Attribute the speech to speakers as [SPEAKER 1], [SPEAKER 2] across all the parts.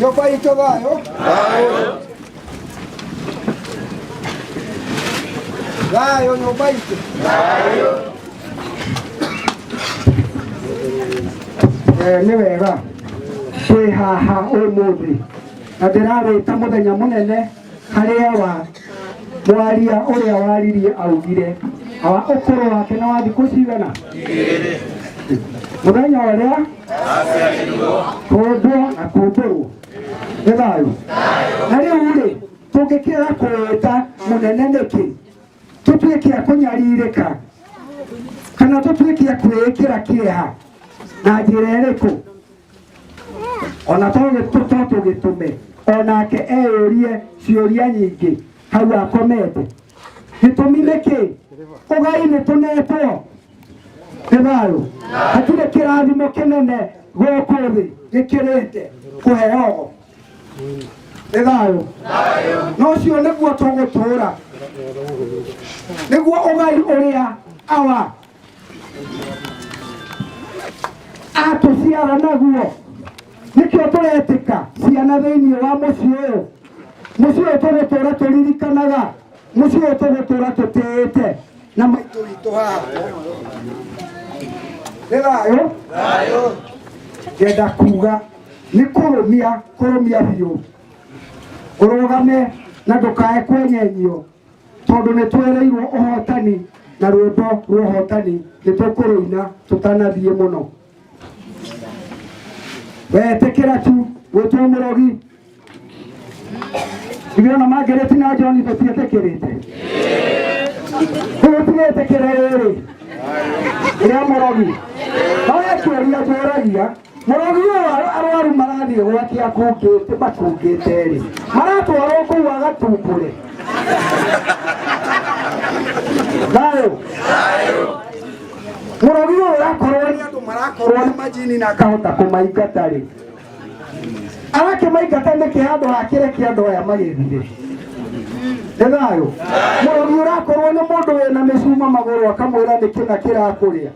[SPEAKER 1] nyũmba itũ thayũ thayũ nyũmba itũ Eh, nĩ wega twĩ haha ũmũthĩ na ndĩrarĩta mũthenya mũnene harĩa wa mwaria ũrĩa waririe augire awa ũkũrũ wake na wa thikũ cigana mũthenya ũrĩa kũndwo na kũndũrwo nĩ thayũ na rĩu rĩ tũngĩkĩra kũwĩta mũnene nĩkĩ tũtuĩke a kũnyarirĩka kana tũtuĩke a kwĩĩkĩra kĩeha na njĩra ĩrĩkũ ona to gĩtu- to tũgĩtũme onake eyũrie ciũria nyingĩ hau akomete gĩtũmi nĩ kĩ ũgai nĩ tũnetwo nĩ thayũ hatirĩ kĩrathimo kĩnene gũkũ thĩ gĩkĩrĩte kũheogo nĩ thayũ na ũcio nĩguo tũgũtũũra nĩguo ũgai ũrĩa awa atũciara naguo nĩkĩo tũretĩka ciana thĩinĩ wa mũciĩ ũyũ mũciĩ ũyũ tũgũtũra tũririkanaga mũciĩ ũyũ tũgũtũra tũtĩĩte na maitũ witũ haha nĩ thayũ ngenda kuga nĩ kũrũmia kũrũmia biũ ũrũgame na ndũkae kwenyenyio tondũ nĩ twereirwo ũhotani na rwĩmbo rwa ũhotani nĩ tũkũrũina tũtanathiĩ mũno wetĩkĩra tu gwĩtwo mũrogi ithuĩ ona mangĩrĩti na joni tũtiĩtĩkĩrĩte tũtigĩtĩkĩra rĩrĩ rĩa mũrogi no ekĩũria tũragia Mũrũgi ũyũ arũ- arwaru marathiĩ gwake akungĩte makungĩte rĩ maratwarwo kũu agatumbũre thayũ mũrũgi ũyũ ũrakorwo nĩ andũ marakorwo nĩ majini na akahota kũmaingata rĩ arakĩmaingata nĩkĩ handũ hakĩre kĩ andũ aya magĩthire nĩ thayũ mũrũgi ũrakorwo nĩ mũndũ wĩna mĩcuma magũrũ akamwĩra nĩkĩ na kĩrakũrĩa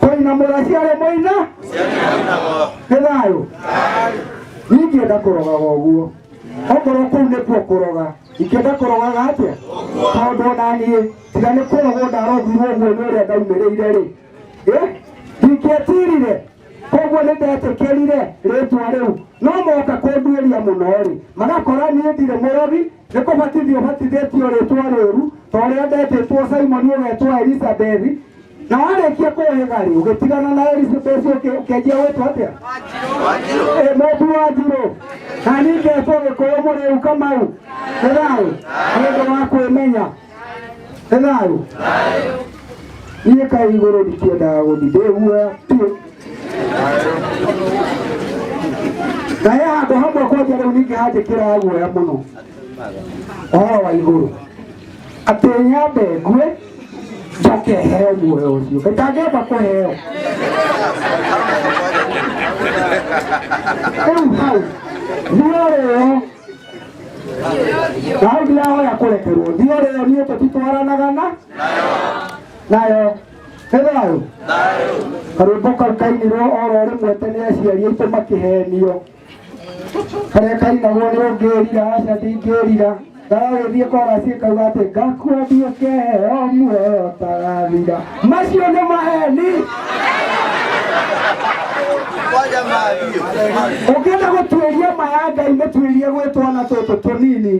[SPEAKER 1] koina mũraciarĩ mũina nĩ thayũ ingĩenda kũrogaga ũguo okorwo kũu nĩkuo kũroga ingĩenda kũrogaga atĩa tondũ ona niĩ tiga nĩ kũrogwo ndarogirwo ũguo nĩ ũrĩa ndaumĩrĩire rĩ Eh, ndingĩetirire koguo nĩ ndetĩkĩrire rĩtwa rĩu no moka kũnduĩria mũno rĩ magakora niĩ ndirĩ mũrogi Nĩ kũbatithio ũbatithĩtio rĩtwa rĩũru ta ũrĩa ndetĩtwo Simoni ũgetwo Elisabethi, na warĩkia kũhĩga rĩ ũgĩtigana na Elisabethi ũkĩ- ũkĩanjia gwĩtwo atĩa? Ĩ, Mũmbi wa njirũ na niĩ ngetwo Gĩkũyũ Mũrĩu Kamau. Nĩ thayũ nĩ ũndũ wa kwĩmenya. enayũ niĩ kaĩ igũrũ ndikĩendaga gũthi ndĩguoya biũ kaĩ handũ hamwe kwanja rĩu ningĩ hanjĩkĩra guoya mũno ũhoro wa igũrũ atĩ nyambe ngue njoke heo muoyo ũcio kaĩ ndangĩamba kũheo rĩu hau muoyo ngai ndirahoya kũrekerwo ndio rĩo niĩ tũtitwaranaga na nayo nĩ thayũ karwĩmbo kau kainirwo oro rĩmwe tene aciari aitũ makĩhenio karĩa kainagwo nĩ ũngĩrira aca ndingĩrira ndagagĩthiĩ korasi kauga atĩ ngakua ndiũkeheo muoyo tagathira macio nĩ maheni ũngĩenda gũtuĩria ma ya ngai mũtuĩrie gwĩ twana tũtũ tũnini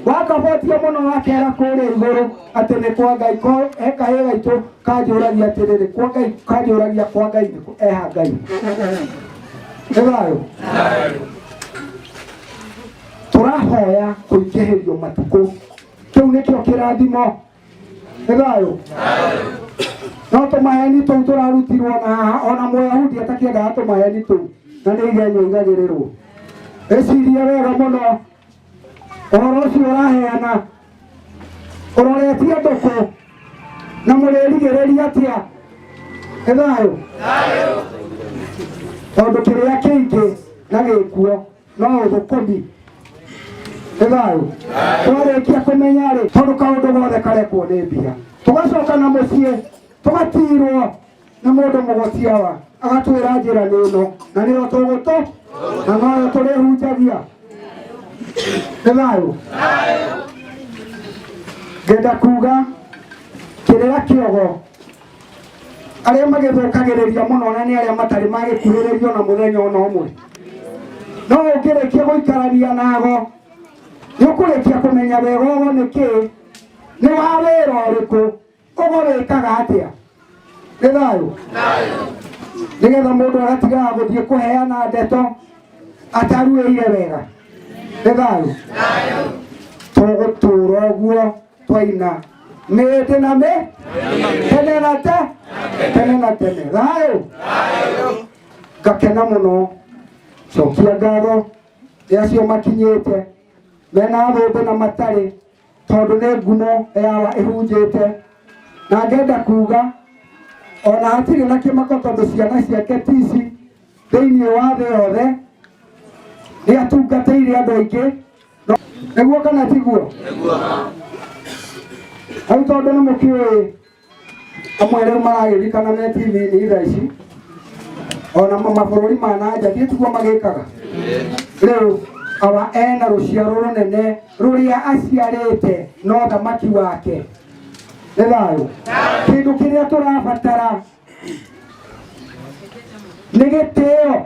[SPEAKER 1] wakabotia mũno wakera kũrĩa igũrũ atĩ nĩ kwa ngai ko ekahĩ gaitũ kanjũragia atĩrĩrĩ kwa ngai kanjũragia kwa ngai nĩ kũ- eha ngai nĩ thayũ tũrahoya kũingĩhĩrio matukũ kĩu nĩkĩo kĩrathimo nĩ thayũ no tũmaheni tũu tũrarutirwo na haha ona mũyahudi atakĩendaga tũmaheni tũu na nĩ igenyo igagĩrĩrwo ĩcirie wega mũno ũhoro ũcio ũraheana ũroretie ndũkũ na mũrĩrigĩrĩria atĩa nĩ thayũ tondũ kĩrĩa kĩingĩ na gĩkuo no thũkũmi nĩ thayũ twarĩkia kũmenya rĩ tondũ kaũndũ gothe karekwo nĩ mbia tũgacoka na mũciĩ tũgatirwo nĩ mũndũ mũgũciawa agatwĩra njĩra nĩ ĩno na nĩyo tũgũtũ na noyo tũrĩhunjagia nĩ thayũ ngenda kuga kĩrĩra kĩogo arĩa magĩthũkagĩrĩria mũno na nĩ arĩa matarĩ magĩkuhĩrĩrio na mũthenya ona ũmwe no ũngĩrĩkia gũikarania nago nĩ ũkũrĩkia kũmenya wega ũgo nĩ kĩĩ nĩ wa wĩra ũrĩkũ ũgo wĩkaga atĩa nĩ thayũ nĩgetha mũndũ agatigaga gũthiĩ kũheana ndeto ataruĩire wega nĩ thayũ tũgũtũra ũguo twaina mĩĩtĩ na mĩ tene na te tene na tene thayũ ngakena mũno cokia ngatho nĩ acio makinyĩte mena thũmbĩ na matarĩ tondũ nĩ ngumo yawa ĩhunjĩte na ngenda kuga ona hatirĩ na kĩmako tondũ ciana ciake tici thĩinĩ wa thĩ yothe nĩ atungatĩire andũ aingĩ nĩguo kana tiguo rĩu tondũ nĩ mũkĩũĩ amwe rĩu maragĩrikana me tv-inĩ thaa ici ona ma- mabũrũri ma na nja thiĩ tiguo magĩkaga rĩu awa ena rũciaro rũnene rũrĩa aciarĩte no thamaki wake nĩ thayũ kĩndũ kĩrĩa tũrabatara nĩ gĩtĩo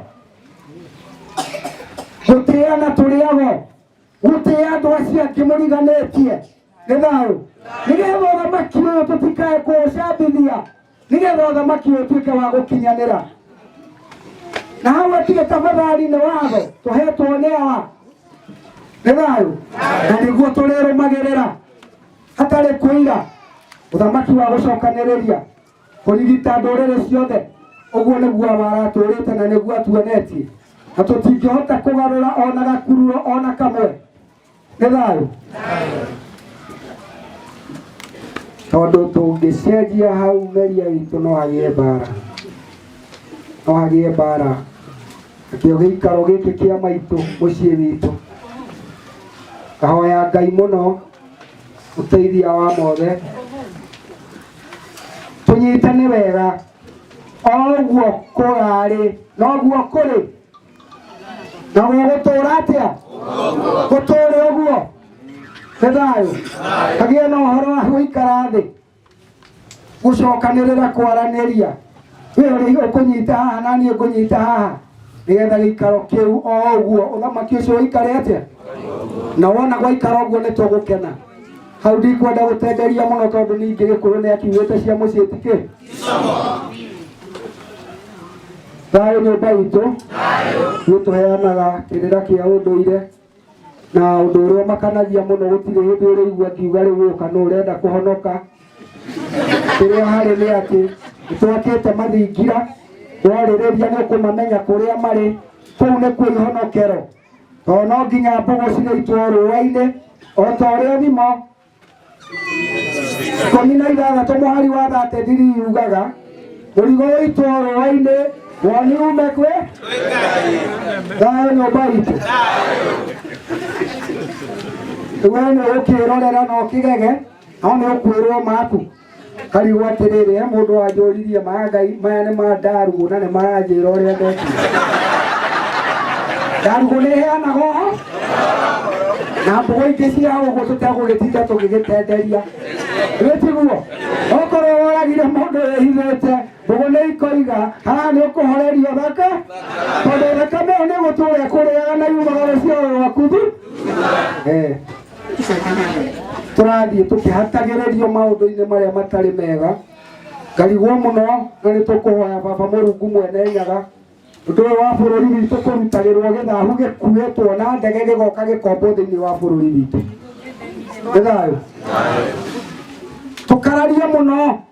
[SPEAKER 1] gũtĩana tũrĩago gũtĩa andũ acio angĩ mũriganĩtie nĩ thayũ nĩgetha ũthamaki ũyũ tũtikae kũũcambithia nĩgetha ũthamaki ũyũ ũtuĩke wa gũkinyanĩra na hau atige tafadhali nĩ watho tũhetwo nĩ awa nĩ thayũ na nĩguo tũrĩrũmagĩrĩra hatarĩ kwĩira ũthamaki wa gũcokanĩrĩria kũrigita ndũrĩrĩ ciothe ũguo nĩguo waratũrĩte na nĩguo atuonetie na tũtingĩhota kũgarũra ona gakururo ona kamwe nĩ thayũ tondũ tũngĩcenjia hau meria witũ no hagĩe mbara no hagĩe mbara nakĩo gĩikaro gĩkĩ kĩa maitũ mũciĩ witũ kahoya ngai mũno ũteithia wa mothe tũnyitane wega oguo kũrarĩ noguo kũrĩ na gũgũtũra atĩa gũtũre ũguo nĩ thayũ kagĩe na ũhoro wa gũikara thĩ gũcokanĩrĩra kwaranĩria we ũrĩ ũkũnyita haha na niĩ ngũnyita haha nĩgetha gĩikaro kĩu o ũguo ũthamaki ũcio ũikare atĩa na wona gwaikara ũguo nĩ tũgũkena hau ndikwenda gũtenderia mũno tondũ ningĩ gĩkũyũ nĩ akiugĩte cia mũciĩ tikĩ thayũ nyũmba itũ nĩ tũheanaga kĩrĩra kĩa ũndũire na ũndũ ũrĩa ũmakanagia mũno gũtirĩ hĩndĩ ũrĩigua akiuga rĩu ũka nũ ũrenda kũhonoka kĩrĩa harĩ nĩ atĩ nĩtwakĩte mathingira warĩrĩria nĩ ũkũmamenya kũrĩa marĩ kũu nĩ kuo ihonokero tondũ no nginya mbũgũ cigĩitwo rũũa-inĩ o ta ũrĩa thimo ikũmi na ithathatũ mũhari wa thate thiri yugaga mũrigo ũitwo rũa-inĩ woni ume kwĩ thayũ nyũmba itũ we nĩ ũkĩrorera na ũkĩgege no nĩ ũkwĩrwo maku Karigu atĩrĩrĩ, he mũndũ wanjũririe ma Ngai, maya nĩ ma Ndarugu na nĩ maranjĩra ũrĩa ndekire. Ndarugu nĩ ĩheanaga ũhoro na mbogo ingĩ cia ũguo tũtegũgĩtinda tũgĩgĩtenderia wĩtiguo okorwo woragire mũndũ wĩhithĩte mbogo nĩ ikoiga haha nĩ ũkũhorerio thaka tondũ thakame ĩyo nĩ gũtũra ĩkũrĩaga na yumaga rũciaro rwaku thu Eh. tũrathiĩ tũkĩhatagĩrĩrio maũndũ-inĩ marĩa matarĩ mega ngarigwo mũno na nĩ tũkũhoya baba mũrungu mwene nyaga ũndũ ũyũ wa bũrũri witũ kũrutagĩrwo gĩthahu gĩkuĩtwo na ndege gĩgoka gĩkombo thĩinĩ wa bũrũri witũ nĩ thayũ tũkararia mũno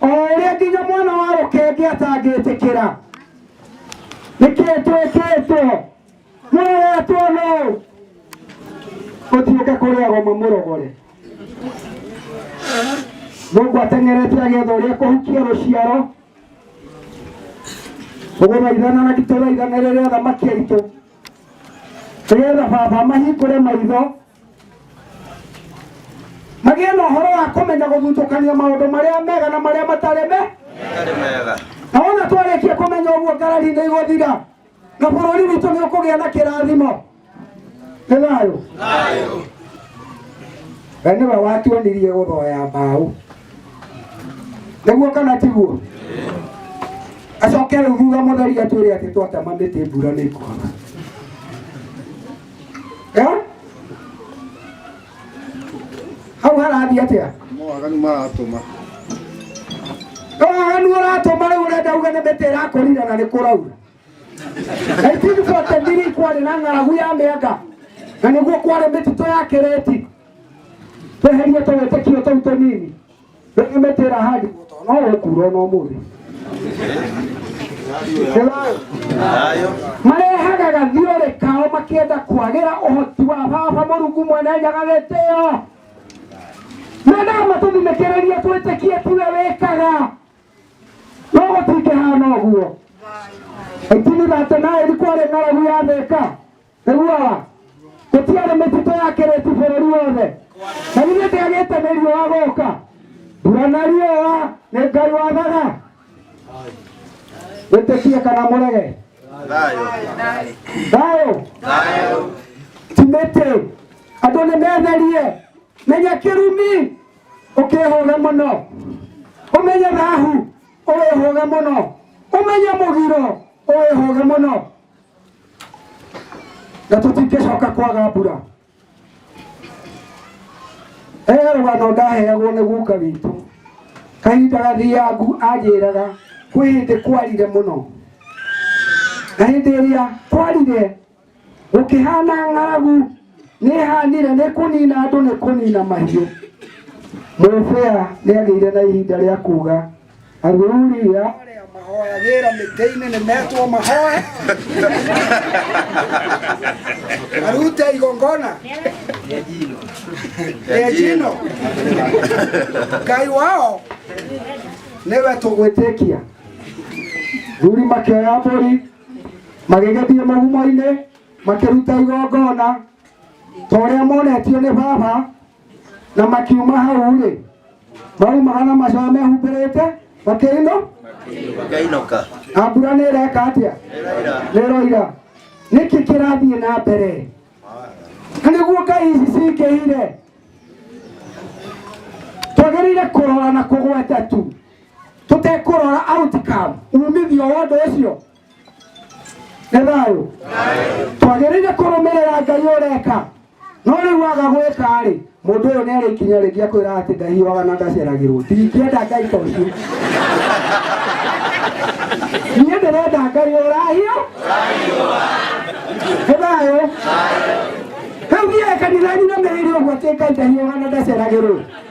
[SPEAKER 1] o ũrĩa nginya mwana wa rũkenge atangĩtĩkĩra nĩkĩĩ twĩkĩtwo mũroretwo no ũtiũke kũrĩa goma mũrogore mũndũ ateng'erete agetha ũrĩa kũhukia rũciaro ũgũthaithana na tũthaithana rĩrĩa thamaki aitũ nĩgetha baba mahingũre maitho magĩe na ũhoro wa kũmenya gũthutũkania maũndũ marĩa mega na marĩa matarĩ me na wona twarĩkia kũmenya ũguo ngarari nĩ igũthira na bũrũri witũ nĩ ũkũgĩa na kĩrathimo nĩ thayũ we nĩwe watuonirie gũthoya mbaũ nĩguo kana tiguo acoke rĩu thutha mũtheri atwĩre atĩ twatema mĩtĩ mbura nĩ kwaga Eh? hau harathiĩ atĩa Mawaganu maratũma. waganu ũratũma rĩu ũrenda uge nĩ mĩtĩ ĩrakũrire na nĩ kũraura 1943 kwarĩ na ng'aragu ya mĩanga na nĩguo kwarĩ mĩtitũ ya kĩrĩti tweherie tũwĩtĩkio tũu tũnini rĩngĩ mĩtĩ ĩrahandirwo to no ũkuura ona ũmũthĩ marehaga gathiũrĩ kao makĩenda kwagĩra ũhoti wa baba mũrungu mwene nyaga gĩtĩo mendaga matũthinĩkĩrĩrie twĩtĩkie tiwe wĩkaga no gũtingĩhana ũguo itini ratĩ naĩri kwarĩ ng'aragu yathĩka iguaga gũtiarĩ mĩtitũ yakĩrĩti bũrũri wothe na githĩ ndĩagĩte nĩ riũa gũka mbura na riũa nĩ ngai wathaga wĩtĩkie kana mũrege thayũ timĩtĩ andũ nĩ metherie menya kĩrumi ũkĩhũge mũno ũmenye rahu ũwĩhũge mũno ũmenye mũgiro ũwĩhũge mũno na tũtingĩcoka kwaga mbura he rũgano ndaheagwo nĩ guka witũ kahinda gathiangu anjĩraga kwĩ hĩndĩ kwarire mũno na hĩndĩ ĩrĩa kwarire gũkĩhana ng'aragu nĩhanire nĩ kũnina andũ nĩ kũnina mahiũ mũbĩa nĩagĩire na ihinda rĩa kuga Athuri a arĩa mahoyagĩra mĩtĩ-inĩ nĩ metwo mahoe marute igongona rĩa njino ngai wao nĩwe tũgwĩtĩkia thuri makĩoya mbũri magĩgĩthiĩ mũgumo-inĩ makĩruta igongona ta ũrĩa monetio nĩ baba na makiuma hau rĩ maumaga na macoya mehumbĩrĩte makĩino Ngainoka. na mbura nĩ ĩreka atĩa nĩroira nĩkĩ kĩrathiĩ na mbere na nĩguo ngai ici cingĩhire twagĩrĩire kũrora na kũgweta tu tũtekũrora outcome umithio wa ũndũ ũcio nĩ thayũ twagĩrĩire kũrũmĩrĩra ngai ũreka no rĩu waga gwĩka rĩ mũndũ ũyũ nĩ arĩ ikinya rĩngĩ akwĩra atĩ ndahiũaga na ndaceragĩrwo ndingĩenda ngai ta ũcio niĩ ndĩrenda ngai ũrahio nĩ thayũ rĩu thiaga kanitha-inĩ na mĩrĩire ũguo atĩ ngai ndahiũaga na ndaceragĩrwo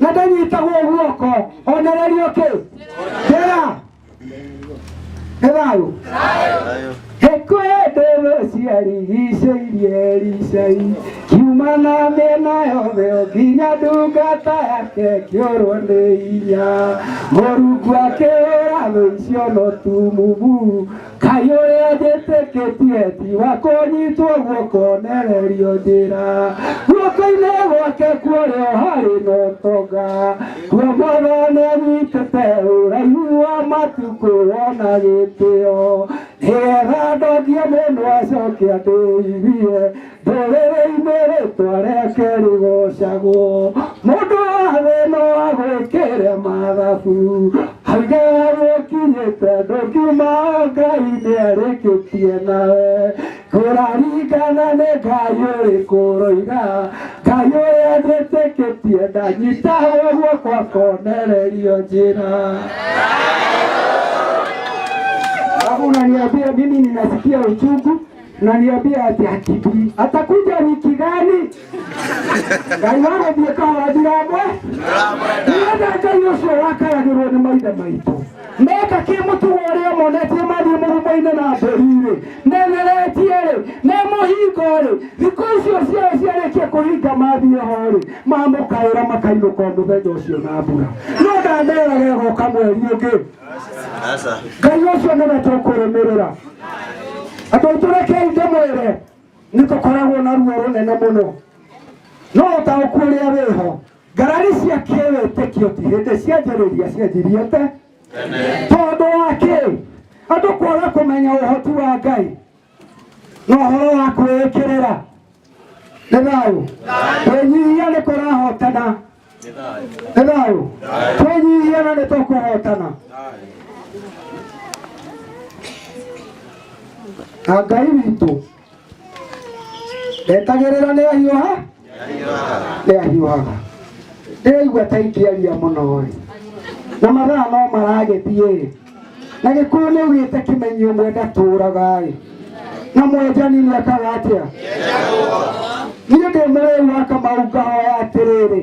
[SPEAKER 1] na ndanyitagwo guoko onererio kä ndera nä thayå Heko ndero ciarigicĩirie ricai kiuma na mĩena yothe o nginya ndungata yake kĩorwo nĩ inya mũrungu akĩhũra thũ icio no tumumu Ngai ũrĩa njĩtĩkĩtie ti wa kũnyitwo guoko nererio njĩra guoko-inĩ gwake kuorĩo harĩ na ũtonga kuo mwathane nyitĩte ũraihu wa matukũ wona gĩtĩo nĩgetha ndokie mũndũ acoke andĩithie Rũrĩrĩ-inĩ rĩtwa rĩake rĩgocagwo, mũndũ wothe no agwĩkĩre mathabu. Auge gũkinyĩte ndũkiuma o Ngai nĩarĩkĩtie nawe. Kũraringana nĩ Ngai ũrĩkũ ũroiga, Ngai ũrĩa njĩtĩkĩtie ndanyitagwo guoko akonererio njĩra. Alafu unaniambia mimi ninasikia uchungu naniambia ati akijui atakuja wiki gani ngai wagũthiĩ kawathirambwe nĩgetha ngai ũcio wakayagĩrwo nĩ maithe maitũ meka kĩmũtugo ũrĩa monetie mathiĩ mũrumo-inĩ na mbũri-rĩ neneretie-rĩ nĩ mũhingo-rĩ thikũ icio ciao ciarĩkia kũhinga mathiĩ ho-rĩ mamũkaĩra makainũka o mũthenya ũcio na mbura no ndamerage goka mweri ũngĩ Sasa ngai ũcio nĩwe tũkũrũmĩrĩra andũ aitũ rekei ndĩmwĩre nĩtũkoragwo na ruo rũnene mũno no ũtaũku ũrĩa wĩho ngarari cia kĩwĩtĩkio ti hĩndĩ cianjĩrĩria cianjirie te tondũ wa kĩ andũ kwaga kũmenya ũhoti wa ngai no horo wa kwĩĩkĩrĩra nĩ thayũ kwĩnyihia nĩ kũrahotana nĩ thayũ twĩnyihia na nĩ tũkũhotana na ngai witũ etagĩrĩra nĩ ahiũha ndĩahiũhaga ndĩraigua ta ingĩaria mũno ĩ na mathaa no maragĩthiĩ ĩ na gĩkũyũ nĩ ugĩte kĩmenyio mwe ndatũraga ĩ na mwenjani nĩ ekaga atĩa niĩ ndĩ mũrĩu wa kamau ngahoya atĩrĩrĩ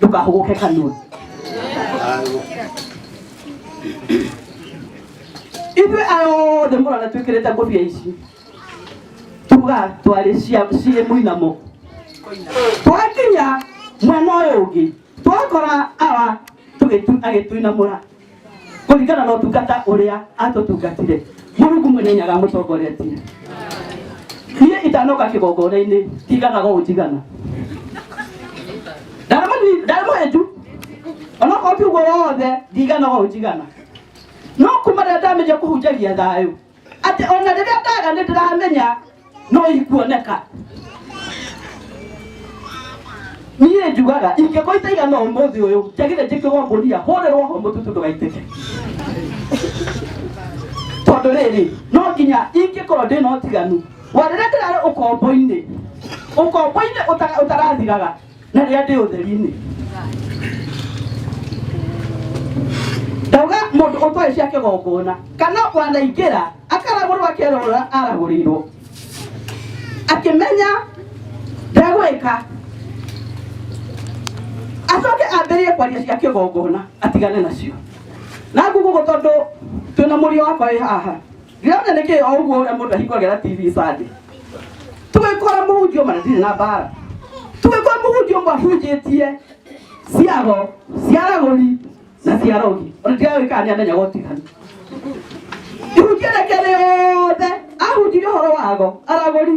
[SPEAKER 1] ndũkahũgũke kanua ithuĩ aya othe mũrona twĩkĩrĩte ngũbia ici tuga twarĩ cia- ciĩ mũinamo twakinya mwena ũyũ ũngĩ twakora awa tũgĩtu- agĩtuinamũra kũringana na ũtungata ũrĩa atũtungatire mũrungu mwene nĩaramũtongoretie niĩ itanoka kĩgongona-inĩ tiganaga ũũ njigana ndarĩmũhe nju onokorwo ti ũguo wothe ndiganaga ũũ njigana no kuma rĩrĩa ndamenya kũhunjagia thayũ atĩ ona rĩrĩa ndaga nĩ ndĩramenya no ikuoneka niĩ njugaga ingĩkwa itaigana ũmũthĩ ũyũ njagĩre njĩkĩrwo ngũnia hũrĩrwo ho mũtutu ndũgaitĩke tondũ rĩrĩ no nginya ingĩkorwo ndĩ na ũtiganu wa rĩrĩa ndĩrarĩ ũkombo-inĩ ũkombo-inĩ ũtarathiraga na rĩrĩa ndĩ ũtheri-inĩ ndauga mũndũ ũtoĩ cia kĩgongona kana wanaingĩra akaragũrwo akerorora aragũrĩirwo akĩmenya ndegwĩka acoke ambĩrĩrie kwaria cia kĩgongona atigane nacio na ngugugu tondũ twĩna mũriũ wakwa wĩ haha Ndĩrona nĩkĩ o ũguo ũrĩa mũndũ ahingũragĩra TV Sunday. Tũgĩkora mũhunjia ũmwe na ndirĩ na mbara. Tũgĩkora mũhunjia ũmwe ahunjĩtie ciago, ciaragũri na ciarogi. Ona ndirawĩ kana nĩamenyaga ũtiganu. Ihunjia reke rĩothe ahunjirie ũhoro wago, aragũri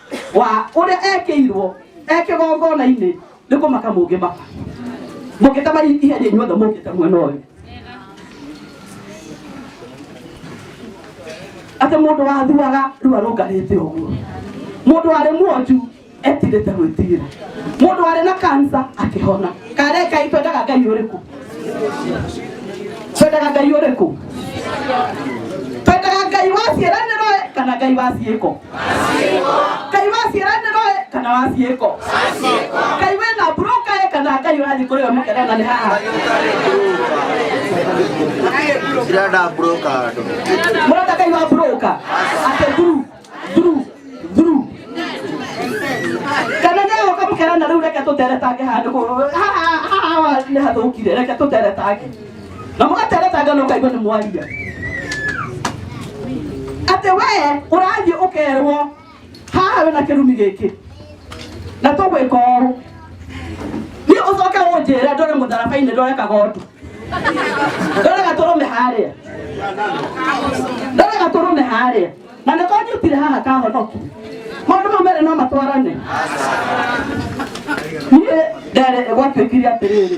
[SPEAKER 1] wa ũrĩa ekĩirwo ekĩgongona-inĩ nĩ kũmaka mũngĩmaka mũngĩtema ihenya inyuothe mũngĩte mwena ũyũ atĩ mũndũ wathuaga rĩu arũngarĩte ũguo mũndũ warĩ mwonju etirĩte gwĩtigĩra mũndũ warĩ na kansa akĩhona karekai twendaga ngai ũrĩkũ twendaga ngai ũrĩkũ twendaga ngai wa ciĩranĩro kana ngai wa ciĩko kai wa ciaranĩro ĩ kana wa ciĩko kai wĩ na broka ĩ kana kai ũrathiĩ kũrĩ we mũkera na nĩ haha Cirenda broka andũ. mũrenda kai wa broka atĩ thuru thuru thuru kana nĩ ũka mũkera na rĩu reke tũteretange handũ kũ- haha haha nĩ hathũkire reke tũteretange na mũgatereta ngano ũkaigua nĩ mwaria atĩ wee ũrathiĩ ũkerwo haha wĩna kĩrumi gĩkĩ na tũgwĩka ũũ niĩ ũcoke ũnjĩre ndore mũtharaba-inĩ ndore kagondu ndore gatũrũme harĩa ndore gatũrũme harĩa na nĩ tondũ ũtire haha kahonoki maũndũ mau merĩ no matwarane niĩ nderĩ gwatuĩkire atĩrĩrĩ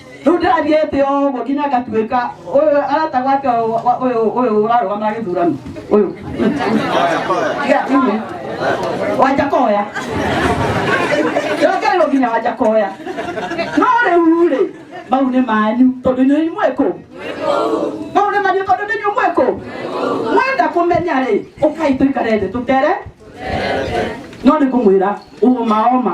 [SPEAKER 1] rĩu ndathiĩte o ũguo nginya ngatuĩka ũyũ arata gwake ũyũ- wa- ũyũ ũyũ ũrarũgama gĩthurano ũyũ Ya, mm. wanja koya yokerwo nginya wanja koya no rĩu rĩ mau nĩ manyu tondũ inyuĩ imwĩkũ mau nĩ manyu tondũ nĩ inyuĩ mwĩkũ mwenda kũmenya rĩ ũkai tũikare thĩ tũtere no nĩ kũmwĩra ũũma oma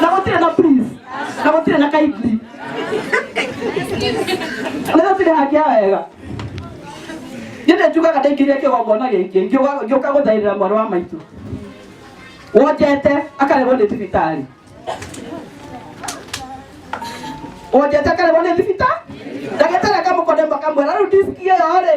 [SPEAKER 1] na gũtirĩ na please na gũtirĩ na kindly na gũtirĩ hakia wega nĩndĩ njugaga ndaingĩria kĩgongona gĩkĩ ngiuga- ngĩũka gũthairĩra mwarĩ wa maitũ wonjete akarerwo nĩ thibitarĩ wonjete akarerwo nĩ thibitarĩ ndagĩtarĩ akamũkone makamwĩra rĩu diski ĩyo rĩ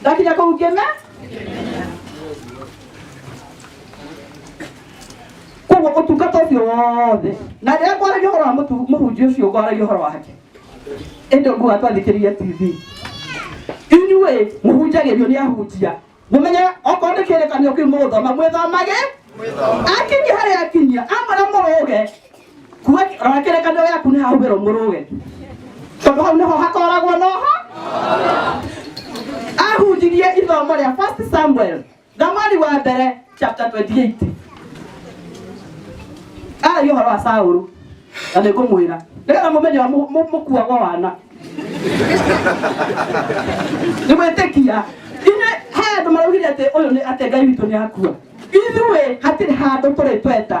[SPEAKER 1] ndakinya kũu ngĩme koguo ũtungata ũcio wothe na rĩrĩa kwaragia ũhoro wa mũtu- mũhunjia ũcio kwaragia ũhoro wake ĩndĩ ũguo atwathikĩrĩria tv inyuĩ mũhunjagĩrio nĩ ahunjia mũmenye okorwo nĩ kĩrĩkanio kĩu mũgũthoma mwĩthomage akinyia harĩa akinyia amwĩra mũrũge kuwa rora kĩrĩkanĩro gĩaku nĩ hahũthĩrwo mũrũwe tondũ hau nĩho hakoragwo noho ahunjirie ithomo rĩa first samuel thamari wa mbere chapter 28 aragia ũhoro wa saũrũ na nĩ ngũmwĩra nĩgetha mũmenye ũrĩa mũ- mũ- mũkuagwo wana nĩ gwĩtĩkia ithe he andũ maraugire atĩ ũyũ nĩ atĩ ngai witũ nĩ akua ithuĩ hatirĩ handũ tũrĩ tweta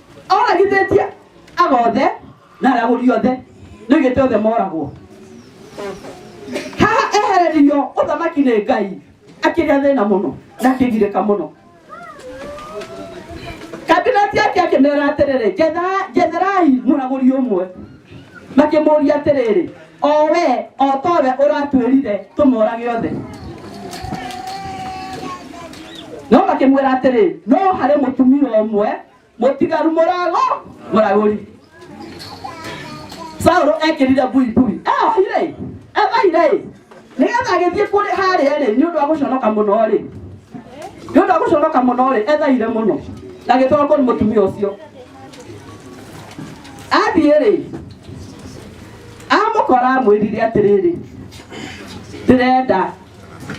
[SPEAKER 1] oragithĩtie agothe na arĩa agũri othe nĩ oigĩte othe moragwo haha ehereririo ũthamaki nĩ ngai akĩrĩa thĩna mũno na akĩgirĩka mũno kabineti yake akĩmera atĩrĩrĩ "Njetha- njetherai mũragũri ũmwe makĩmũria atĩrĩrĩ o we o towe ũratwĩrire tũmorage othe no makĩmwĩra atĩrĩ no harĩ mũtumia ũmwe mũtigaru mũrago mũragũri saũlũ ekĩrire buibui eohire ebaire nĩgetha agĩthiĩ kũrĩ harĩa rĩ nĩ ũndũ wa gũconoka mũno rĩ nĩ ũndũ wa gũconoka mũno rĩ ethaire mũno na agĩtwarwo kũrĩ mũtumia ũcio athiĩ rĩ amũkora amwĩrire atĩrĩrĩ ndĩrenda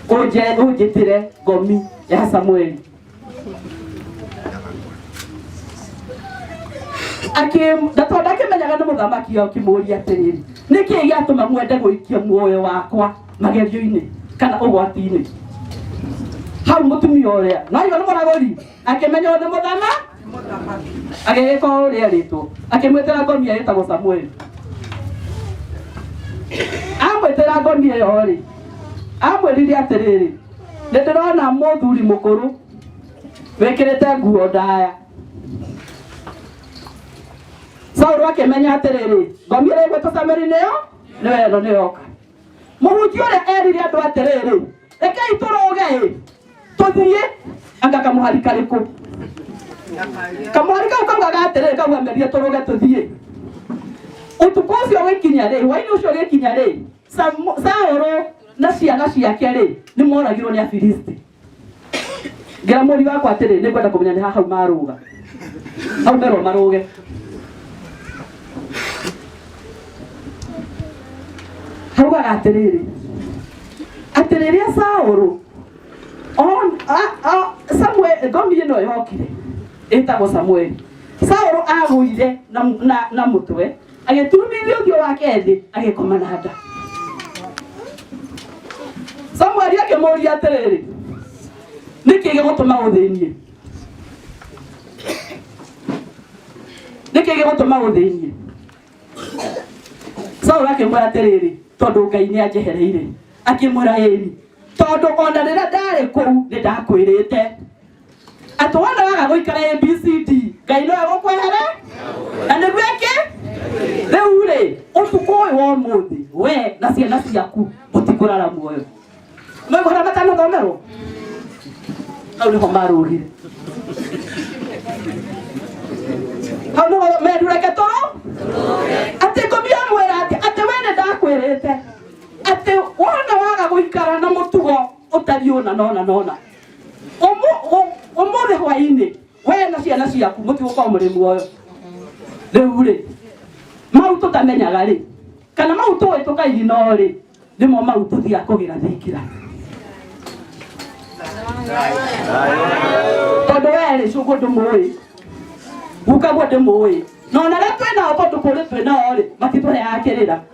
[SPEAKER 1] ũnje- ũnjĩtĩre ngomi ya samueli Akĩ- na tondũ akĩmenyaga nĩ mũthamaki akĩmũria atĩrĩrĩ nĩ kĩĩ gĩatũma mwende gũikia muoyo wakwa magerio-inĩ kana ũgwati-inĩ hau mũtumia ũrĩa naigua nĩ mũragũri akĩmenywo nĩ mũthama agĩgĩka o ũrĩa erĩtwo akĩmwĩtĩra ngomia ĩtagwo samueli amwĩtĩra ngomia ĩyo rĩ amwĩrire atĩrĩrĩ nĩ ndĩrona mũthuri mũkũrũ wĩkĩrĩte nguo ndaya saũlũ akĩmenya atĩrĩrĩ ngomia ĩrĩa ĩgwĩtwo sameri nĩyo nĩyo ĩno nĩyoka mũhunjia ũrĩa erire andũ atĩrĩrĩ rekei tũrũge-ĩ tũthiĩ anga kamũhari karĩkũ kamũhari kau kaugaga atĩrĩrĩ kauga merie tũrũge tũthiĩ ũtukũ ũcio ũgĩkinya rĩ hwainĩ ũcio ũgĩkinya rĩ Samu- saũlũ na ciana ciake rĩ nĩ moragirwo nĩ afilisti ngera mũri wakwa atĩrĩ nĩ ngwenda kũmenya nĩ ha hau marũga hau merwo marũge haugaga atĩrĩrĩ atĩ rĩrĩa saũrũ on- a- a- Samuel- ngomi ĩno yokire ĩtagwo samueli saũrũ agũire na- na- na mũtwe agĩturumithia ũthiũ wake thĩ agĩkoma na nda samueli akĩmũria atĩrĩrĩ nĩkĩ gĩgũtũma ũthĩnie nĩkĩ gĩgũtũma ũthĩnie saũlũ akĩmwĩra atĩrĩrĩ tondũ ngai nĩ anjehereire akĩmwĩra ĩni tondũ ona rĩrĩa ndarĩ kũu nĩ ndakwĩrĩte atĩ wona waga gũikara abcd ngai no egũkwehere na nĩguo ĩkĩ rĩu rĩ ũtukũ ũyũ wa ũmũthĩ we na ciana ciaku mũtikũrara muoyo mwĩgũra matanathomerwo hau nĩho marũgire hau nĩho merureke toro atĩ ngũmia mwĩra atĩ atĩ we nĩ ndakwĩrĩte atĩ wona waga gũikara na mũtugo ũtariĩ ũna na ũna na ũna umuthi hwaini we na ciana ciaku muti gukorwo muri muoyo riu ri mau tutamenyaga ri kana mau tuwi tukaigino ri nimo mau tuthia kugira thingira tondu we ri cugu ndumuwi gukaguo ndumuwi na ona ria twinao tondu kuri twinao ri matitũheaga kĩrĩra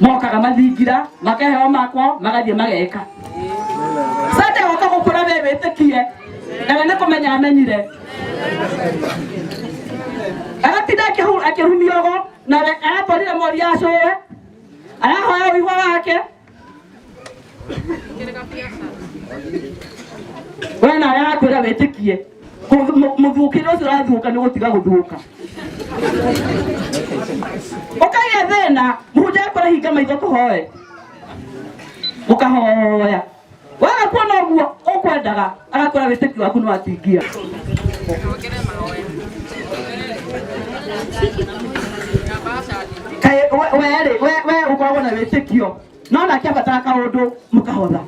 [SPEAKER 1] mokaga mathingira makeheo makwo magathiĩ mageka sande oka gũkũra we wĩtĩkie na we nĩ kũmenya amenyire agatinda akĩhu- akĩhumiogo nawe aratwarire mori ya cũwe arahoya ũigua wake we na yakwĩra wĩtĩkie Kũ- mũ- mũthukĩre ũcio ũrathũka nĩ gũtiga gũthũka ũkagĩa thĩna mũhunjia akora hinga maitho kũhoe ũkahoya waga kuona ũguo ũkwendaga agakora wĩtĩki waku nĩ watingia kaĩ we- werĩ we we ũkoragwo na wĩtĩkio no nake abatara kaũndũ mũkahotha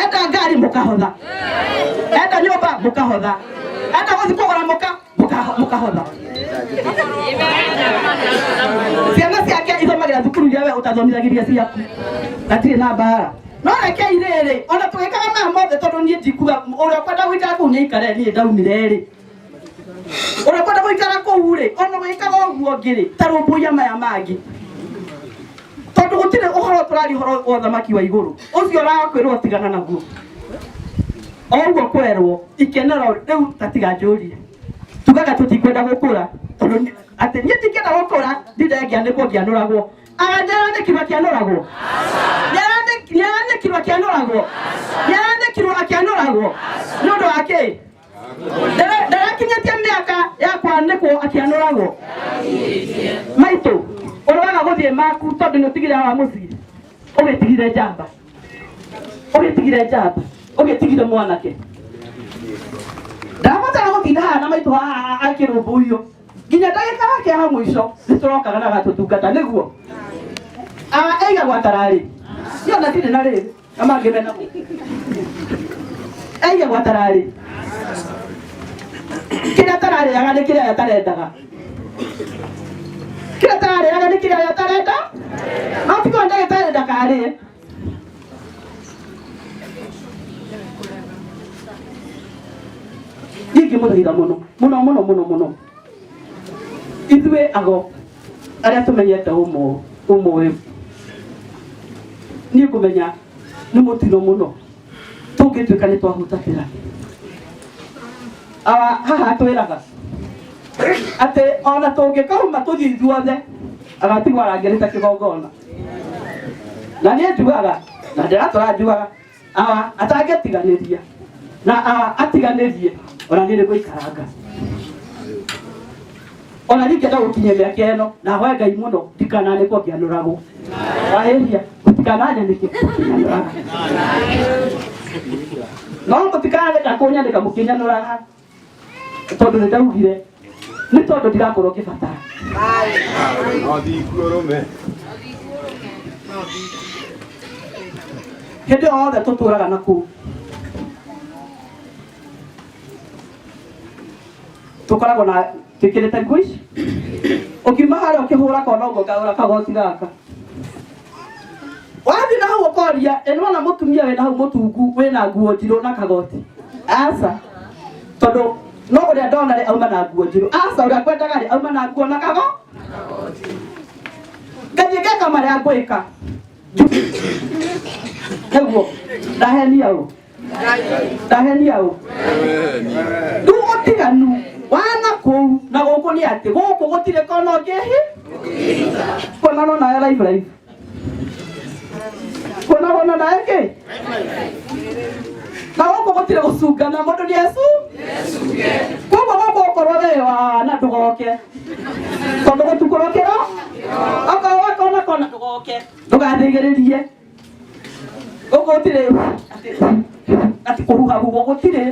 [SPEAKER 1] enda ngari mũkahotha enda nyũmba mũkahotha enda gũthiĩ kũgũra mũka mũkaho- mũkahotha ciana ciake ithomagira thukuru iria we ũtathomithagĩria ciaku gatirĩ na mbara no rekei rĩrĩ ona tũgĩkaga maya mothe tondũ niĩ ndikuga ũrĩa ũkwenda gũikara kũu nĩaikare niĩ ndaumire rĩ ũrĩa ũkwenda gũikara kũu rĩ ona ũgĩkaga ũguo ngĩ rĩ ta rũmbũiya maya mangĩ tondũ gũtirĩ ũhoro tũrari ũhoro wa ũthamaki wa igũrũ ũcio ũrakwĩrwo tigana naguo oguo kwerwo ikenero riu gatiganjũrie tugaga tutikwenda gũkũra tondũ ni- atĩ niĩ ndingĩenda gũkũra ndindengĩa nĩ kũngĩanũragwo nĩarandĩkirwo akĩanũragwo Nĩarandĩk- nĩarandĩkirwo akĩanũragwo nĩarandĩkirwo akĩanũragwo nĩ ũndũ wa kĩ Ndara- ndarakinyĩtie mĩaka ya kwanĩkwo akĩanũragwo maitũ ũroaga gũthiĩ maku tondũ nĩ ũtigire wa mũciĩ ũgĩtigire njamba ũgĩtigire njamba ũgĩtigire mwanake ndabatara gũtinda haha na maitũ haha akĩrũmbũiyo nginya ndagĩka yake ya mũico nĩ tũrokaga na gatũtungata nĩguo aiga gwatararĩ niyo na ndirĩ na rĩrĩ na mangĩ mena aiga gwatararĩ kĩrĩa tararĩaga nĩ kĩrĩa atarendaga kĩrĩa tararĩaga nĩ kĩrĩa arĩa tareka matigwo ndagĩtarĩ ndakarĩe gĩkĩ mũthĩira mũno mũno mũno mũno mũno ithuĩ ago arĩa tũmenyete ũmũ- ũmũĩ niĩ ngũmenya nĩ mũtino mũno tũngĩtuĩka nĩ twahutatĩra Ah, haha atwĩraga atĩ ona tũngĩkauma tũthiĩ ithuothe agatigwo arangĩrĩte kĩgongona na niĩ njugaga na ndĩratũra njugaga ah, atangĩtiganĩria na ah, atiganĩrie ona niĩ nĩ gũikaranga ona ningĩ no gũkinyia mĩaka ĩno na hoya ngai mũno ndikananĩkwo ngĩanũragwo wahĩhia mũtikananyanĩke mũkĩnyanũraga no mũtikanareka kũnyanĩka mũkĩnyanũraga tondũ nĩ ndaugire nĩ tondũ ndirakorwo ngĩbatara hĩndĩ yothe tũtũraga na kũu tukoragwo na twikirite nguo ici ukiuma haria ukihura kona uguo kagura kagoti gaka wathi na hau ukoria ĩno na mũtumia wĩna hau mũtungu wĩna nguo njirũ na kagoti aca tondũ no ũrĩa ndona rĩ auma na nguo njirũ aca ũrĩa kwendaga rĩ auma na nguo na kago ngathiĩ ngeka marĩa ngwĩka naguo ndahenia ũ ndahenia ũ rĩu ũtiganu wa na kũu na gũkũ nĩ atĩ gũkũ gũtirĩ kona ũngĩhi kuona no nawe live live kuona wona nawe kĩ na gũkũ gũtirĩ gũcungana mũndũ nĩ ecu koguo gũkũ ũkorwo wĩ wa na ndũgoke tondũ gũtukũrũkĩra okorwo wakona kona ndũgoke ndũgathĩgĩrĩrie Ũguo ũtirĩ atĩ- atĩ kũhuha huho gũtirĩ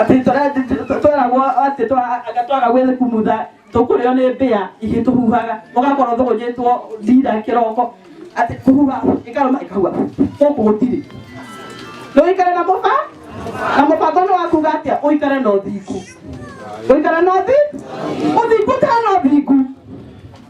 [SPEAKER 1] atĩ tũra- tweragwo atĩ twa- anga twaga gwĩkumutha tũkũrĩo nĩ mbĩa ingĩ tũhuhaga ũgakorwo thũgũnyĩtwo ndira kĩroko atĩ kũhuha ĩkarũma ĩkahuha gũkũ gũtirĩ ndũikare na mũba na mũbango nĩ wakuga atĩa ũikare na ũthingu ũikare na ũthi ũthingu ũtana ũthingu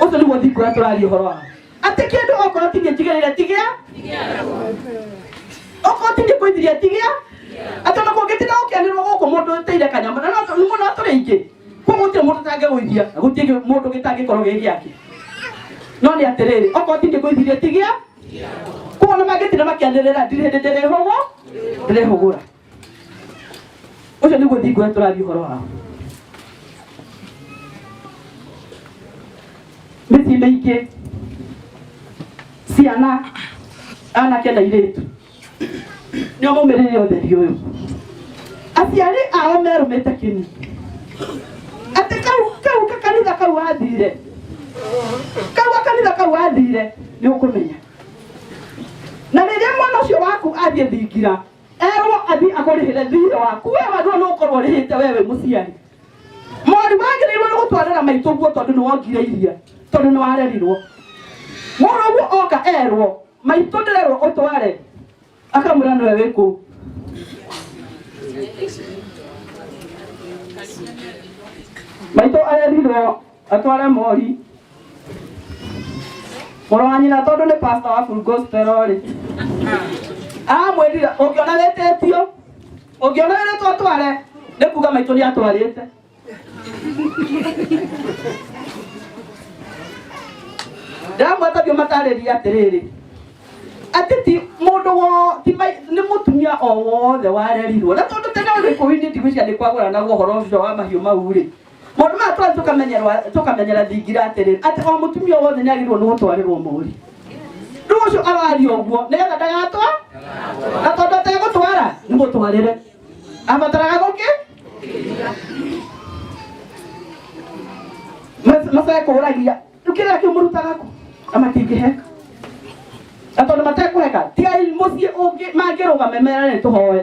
[SPEAKER 1] ũcio nĩguo ndikuoya tũraria ũhoro wa atĩ kĩndũ okorwo ti niĩ njigĩrĩire ti gĩa okorwo ti niĩ ngũithirie ti gĩa atĩ ona kũngĩtinda gũkĩanĩrwo gũkũ mũndũ ũteire kanyama na no nĩ mũndũ atũrĩ aingĩ koguo gũtirĩ mũndũ ũtangĩgũithia na gũtirĩ mũndũ gĩtangĩkorwo gĩ gĩake no nĩ atĩrĩrĩ okorwo ti niĩ ngũithirie ti gĩa koguo ona mangĩtinda makĩanĩrĩra ndirĩ hĩndĩ ndĩrĩhũgwo ndĩrĩhũgũra ũcio nĩguo thingo ũrĩa tũrathiĩ ũhoro wao mĩciĩ mĩingĩ ciana anake na irĩtu nĩo maumĩrĩire ũtheri ũyũ aciari ao merũmĩte kĩni atĩ kau kau kakanitha kau athire kau gakanitha kau athire nĩ ũkũmenya na rĩrĩa mwana ũcio waku athiĩ thingira erwo athiĩ akũrĩhĩre thiirĩ waku we wagĩrĩirwo nĩ gũkorwo ũrĩhĩte we wĩ mũciari mwarimũ wagĩrĩirwo nĩ gũtwarĩra maitũ guo tondũ nĩ wongire iria tondũ nĩ warerirwo mũrũ ũguo oka erwo maitũ ndĩrerwo ũtware akamwĩra nĩwe wĩ kũu maitũ arerirwo atware mori mũrũ wa nyina tondũ nĩ pastor wa full gospel rĩ amwĩrire ũngĩona wĩtĩtio ũngĩona wĩrĩtwo atware nĩ kuga maitũ nĩ atwarĩte ndamwetagio matarĩria atĩrĩrĩ atĩ ti mũndũ wo ti mai- nĩ mũtumia o wothe warerirwo na tondũ tene ũrĩ kũu-inĩ ndigwĩciria nĩ kwagũranagwo ũhoro ũcio wa mahiũ mau rĩ maũndũ maya twarĩ tũkamenyerwa- tũkamenyera thingira atĩrĩ atĩ o mũtumia o wothe nĩ agĩrĩirwo nĩ gũtwarĩrwo mũri rĩu ũcio araria ũguo nĩgetha ndagatwa na tondũ ategũtwara nĩ mũtwarĩre abataraga gũkĩ macekũragia rĩu kĩrĩa kĩu mũrutaga kũ na matingĩheka na tondũ matekũheka tigai mũciĩ ũngĩ mangĩrũgame mera nĩ tũhoe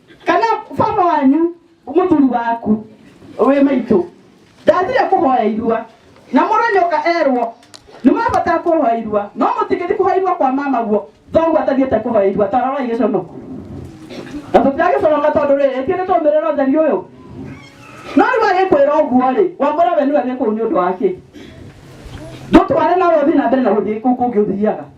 [SPEAKER 1] kana baba wanyu mũthuri waku wĩ maitũ ndathire kũhoya irua na mũranyoka erwo nĩ mabata kũhoya irua no mũtingĩthi kũhoya irua kwa mama guo thoguo atathiĩte kũhoya irua taroroi gĩcono na tũtiragĩconoka tondũ rĩrĩ ti nĩ tũmĩrĩra ũtheri ũyũ no rĩu agĩkwĩra ũguo rĩ wambũra we nĩwe wĩ kũu nĩ ũndũ wake ndũtware nawe ũthiĩ na mbere na gũthiĩ kũu kũngĩ ũthiaga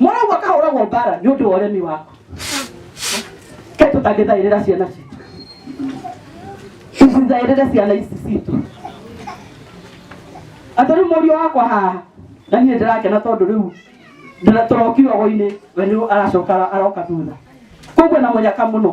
[SPEAKER 1] Mũraigua kahũragwo mbara nĩ ũndũ wa ũremi waku. Kaĩ tũtangĩthaĩrĩra ciana citũ. Tũcithaĩrĩre ciana ici citũ. Atĩ rĩu mũriũ wakwa haha na niĩ ndĩrakena tondũ rĩu ndĩra- tũrokio ogo-inĩ we nĩ aracoka aroka thutha. Kũu kwĩna mũnyaka mũno.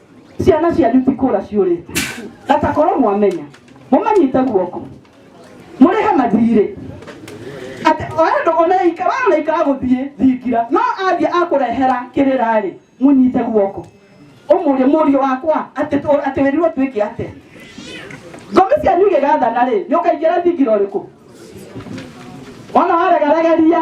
[SPEAKER 1] ciana cianyu ti kũra ciũrĩte gatakorwo mwamenya mũmanyite guoko mũrĩhe mathirĩ atĩ oendo onaika we onaika agũthiĩ thingira no athiĩ akũrehera kĩrĩra-rĩ mũnyite guoko ũmũrĩ mũriũ wakwa atĩ tũ- atĩ wĩrirwo twĩke atĩa ngomi cianyu igĩgathana-rĩ nĩ ũkaingĩra thingira ũrĩkũ ona waregaregeria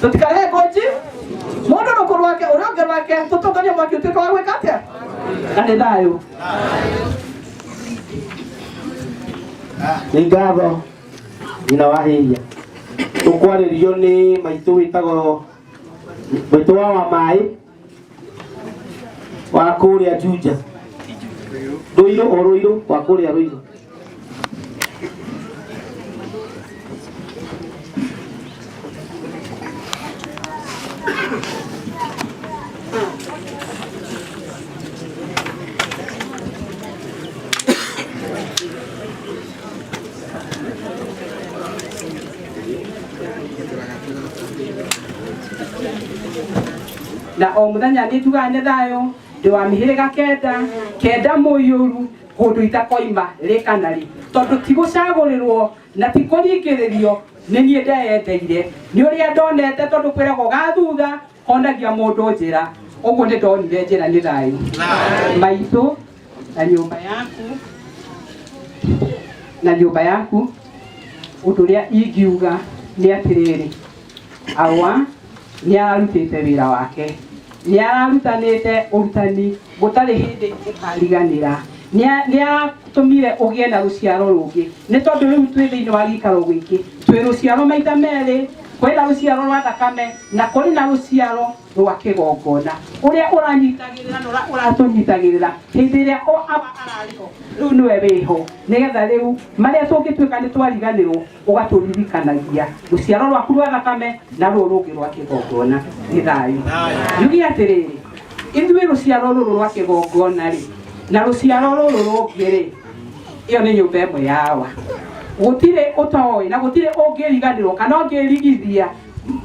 [SPEAKER 1] tũtikarehe kwenji mũndũ rũkũ rwake ũrĩa ũngĩ rwake tũtũnganie mwaki ũtuĩke wa gwĩka atĩa na nĩ thayũ nĩ ngatho nyina wa hĩria tũkwarĩrio nĩ maitũ wĩtagwo maitũ wa wa maĩ wa kũrĩa Juja Rũirũ o Rũirũ wa kũrĩa Rũirũ na o muthenya nitugaga nĩ thayũ ndĩ wa mĩhĩrĩga kenda kenda mũiyũru kũndũ itakoima rĩ kana rĩ tondũ ti gũcagũrĩrwo na ti kũringĩrĩrio nĩ niĩ ndeyendeire nĩ ũrĩa ndonete tondũ kwĩragwo gathutha Onagia mũndũ njĩra, ũguo nĩ ndonire njĩra nĩ thayũ. Maitũ na nyũmba yaku na nyũmba yaku, ũndũ ũrĩa ingiuga nĩ atĩrĩrĩ, awa nĩ ararutĩte wĩra wake, nĩ ararutanĩte ũrutani Gũtarĩ hĩndĩ ũkariganĩra. Nĩ nĩ atũmire ũgĩe na rũciaro rũngĩ. Nĩ tondũ rĩu twĩ thĩinĩ wa gĩikaro gĩkĩ, twĩ rũciaro maita merĩ, kwĩ na rũciaro rwa thakame, na kũrĩ na rũciaro rwa kĩgongona. Ũrĩa ũranyitagĩrĩra na ũrĩa ũratũnyitagĩrĩra hĩndĩ ĩrĩa o aba ararĩ ho, rĩu nĩwe wĩ ho, nĩgetha rĩu marĩa tũngĩtuĩka nĩ twariganĩrwo, ũgatũririkanagia rũciaro rwaku rwa thakame na rũrũ rũngĩ rwa kĩgongona nĩ thayũ yugi atĩrĩrĩ ithuĩ rũciaro rũrũ rwa kĩgongona rĩ na rũciaro rũrũ rũngĩ rĩ ĩyo nĩ nyũmba ĩmwe yawa gũtirĩ ũtoĩ na gũtirĩ ũngĩriganĩrwo kana ũngĩrigithia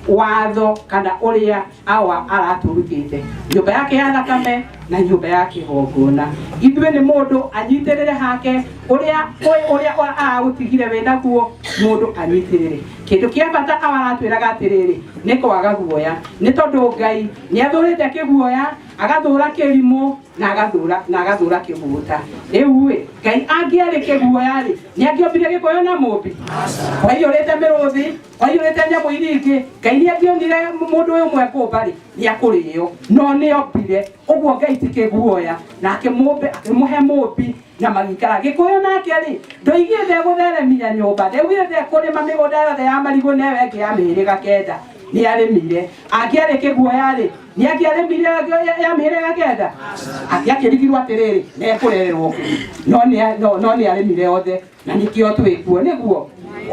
[SPEAKER 1] watho kana ũrĩa awa aratũrutĩte nyũmba yake ya thakame na nyũmba ya kĩgongona ithuĩ nĩ mũndũ anyitĩrĩre hake ũrĩa ũĩ- ũrĩa ũra- aragũtigire wĩ naguo mũndũ anyitĩrĩre kĩndũ kĩa bata awa aratwĩraga atĩrĩrĩ nĩ kwaga guoya nĩ tondũ ngai nĩ athũrĩte kĩguoya agathũra kĩrimũ na agathũra na agathũra kĩguta rĩu ĩ ngai angĩarĩ kĩguoya rĩ nĩ angĩombire gĩkoyo na mũmbi kwa hiyo rĩte mĩrũthi oimĩte nyamũ iria ingĩ ngai nĩ angĩonire mũndũ ũyũ ũmwe kũmba rĩ nĩ akũrĩo no nĩ ombire ũguo ngai ti kĩguoya na akĩmũmbe akĩmũhe mũmbi na magĩikara gĩkũyũ nake rĩ ndoigire ndegũtheremia nyũmba ndaugire ndekũrĩma mĩgũnda yothe ya marigũ na ĩyo ĩngĩ ya mĩhĩrĩga kenda nĩ arĩmire angĩarĩ kĩguoya rĩ nĩ angĩarĩmire ya- ya- ya mĩhĩrĩga kenda angĩakĩrigirwo atĩrĩrĩ nekũrererwo kũ? no nĩ a- no- no nĩ arĩmire othe na nĩkĩo twĩ kuo nĩguo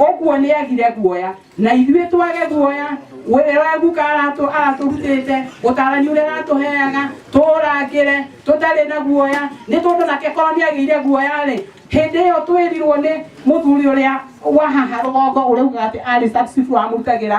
[SPEAKER 1] ũguo nĩ agire guoya na ithuĩ twage guoya ũrĩa waguka aratũ aratũrutĩte ũtarani ũrĩa aratũheaga tũũrangĩre tũtarĩ na guoya nĩ tondũ nake korwo nĩ agĩire guoya-rĩ hĩndĩ ĩyo twĩrirwo nĩ mũthuri ũrĩa wahaha rũgongo ũrauga atĩ arĩ successful amũrutagĩra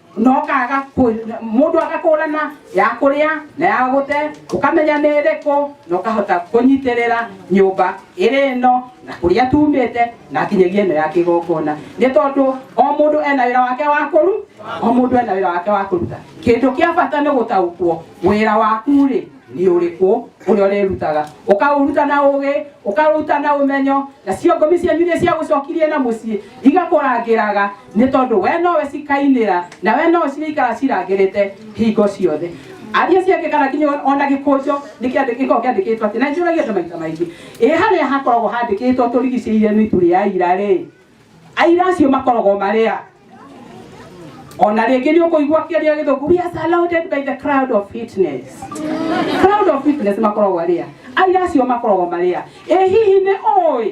[SPEAKER 1] no kaga mundu agakũrana ya kũrĩa na ya gũte ũkamenya nĩ ĩrĩkũ na ũkahota kũnyitĩrĩra nyũmba ĩrĩ ĩno na kũrĩa tumĩte na kinyagia ĩno ya kĩgongona nĩ tondũ o mũndũ ena wĩra wake wa kũru o mũndũ ena wĩra wake wa kũruta kĩndũ kĩa bata nĩ gũtaũkwo wĩra waku rĩ nĩ ũrĩkũ ũrĩa ũrĩrutaga ũkaũruta na ũgĩ ũkaũruta na ũmenyo na ciongomi cianyu iria ciagũcokirie na mũciĩ igakũrangĩraga nĩ tondũ we nowe cikainĩra na we nowe cirĩikara cirangĩrĩte hingo ciothe aria ciake kana kinya ona gĩkũnjo nĩ kĩandĩ- gĩkoragwo kĩandĩkĩtwo atĩ na njũragia andũ maita maingĩ ĩ harĩa hakoragwo handĩkĩtwo tũrigicĩire mĩtu rĩa aira rĩ aira acio makoragwo marĩa ona rĩngĩ nĩ ũkũigua kĩaria gĩthũku we are surrounded by the crowd of fitness crowd of fitness makoragwo arĩa aira acio makoragwo marĩa ĩ hihi nĩ ũĩ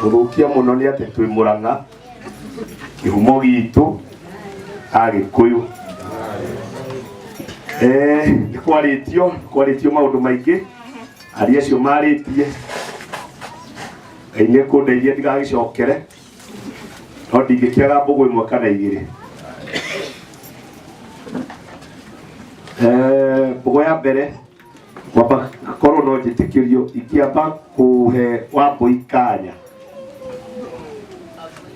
[SPEAKER 1] gũthũkia mũno nĩ atĩ twĩ mũrang'a kĩhumo gitũ agĩkũyũ Eh, nĩ kwarĩtio nĩ kwarĩtio maũndũ maingĩ aria acio marĩtie ngai nĩ kũndeithia ndigagĩcokere no ndingĩkĩaga mbũgũ ĩmwe kana igĩrĩ Eh, mbũgũ ya mbere kwamba akorwo no njĩtĩkĩrio ingĩamba kũhe wambũi kanya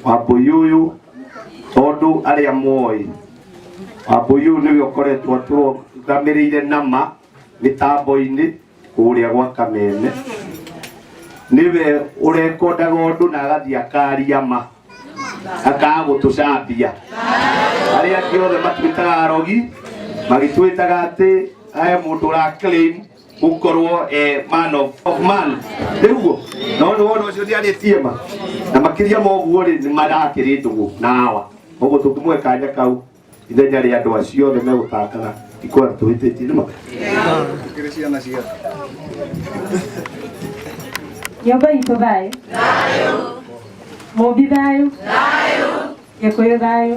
[SPEAKER 1] wambũi ũyũ tondũ arĩa moĩ wambũi ũyũ nĩwe ũkoretwo atũrũgamĩrĩire nama mĩtambo-inĩ kũrĩa gwa kamene nĩwe ũrekondaga ũndũ na agathiĩ akaria ma akaga gũtũcambia arĩa angĩ othe matwĩtaga arogi magĩtwĩtaga atĩ he mũndũ ũra claim gũkorwo eh, man of, of man nĩguo no nĩ wona ũcio nĩarĩtie ma na makĩria moguo rĩ nĩ marakĩrĩ ndũgũ na awa ũguo tũkĩmwe kanya kau ithenya rĩa andũ acio othe megũtangana ikwara tũhĩtĩtie nĩ ma Tukiri ciana cia. nyũmba itũ thayũ mũmbi thayũ gĩkũyũ thayũ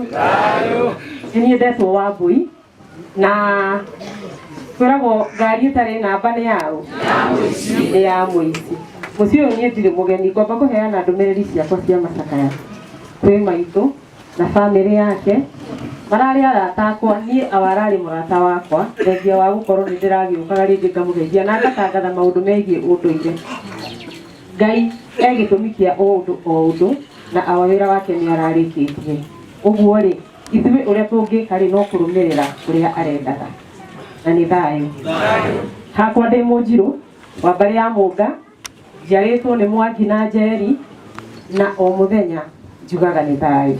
[SPEAKER 1] nĩ niĩ ndetwo wa mbui na kwĩragwo ngari ĩtarĩ namba nĩ yaũ nĩ ya mũici mũciĩ ũyũ niĩ ndirĩ mũgeni ngomba kũheana ndũmĩrĩri ciakwa cia macakaya kwĩ maitũ na bamĩrĩ yake mararĩ arata akwa niĩ awararĩ mũrata wakwa thengia wa gũkorwo nĩ ndĩragĩũkaga rĩngĩ ngamũgeithia na ngatangatha maũndũ megiĩ ũndũire ngai e gĩtũmi kĩa o ũndũ o ũndũ na awa wĩra wake nĩ ararĩkĩtie ũguo rĩ ithuĩ ũrĩa tũngĩka rĩ no kũrũmĩrĩra ũrĩa arendaga na nĩ thayũ hakwa ndĩ mũnjirũ wa mbarĩ ya mũnga njiarĩtwo nĩ mwangi na njeri na o mũthenya njugaga nĩ thayũ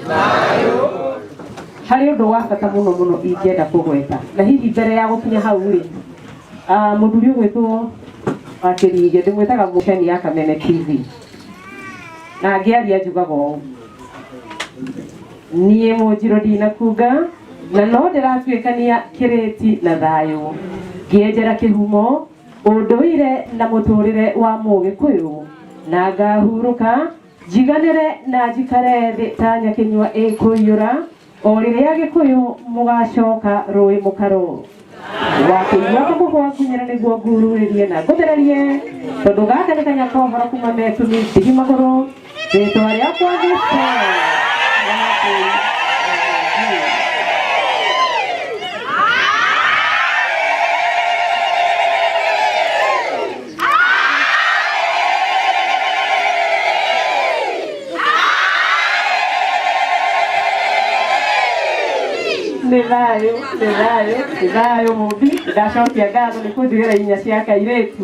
[SPEAKER 1] harĩ ũndũ wa bata mũno mũno ingĩenda kũgweta na hihi mbere ya gũkinya hau rĩ ah, mũthuri ũgwĩtwo wakĩringe ndĩmwĩtaga mũceni ya kameme tv na ngĩaria njugaga ũũ niĩ mũnjirũ ndinakunga na no ndĩratuĩkania kĩrĩti na thayũ ngĩenjera kĩhumo Ũndũire na mũtũrĩre wa Mũgĩkũyũ, na ngahurũka njiganĩre na njikare thĩ ta nyakĩnyua ĩkũiyũra, o rĩrĩa Agĩkũyũ mũgacoka rũĩ mũkaro. Wakĩigua kamũhwa ngunyĩre nĩguo ngururĩrie na ngũthererie, tondũ gaka nĩ kanya kohoro kuma mekuni ndigi magũrũ. Rĩtwa rĩakwa nĩ nĩ thayũ nĩ thayũ nĩ thayũ mũmbi ndacokia ngatho nĩ kũnjigĩra inya cia kairĩtu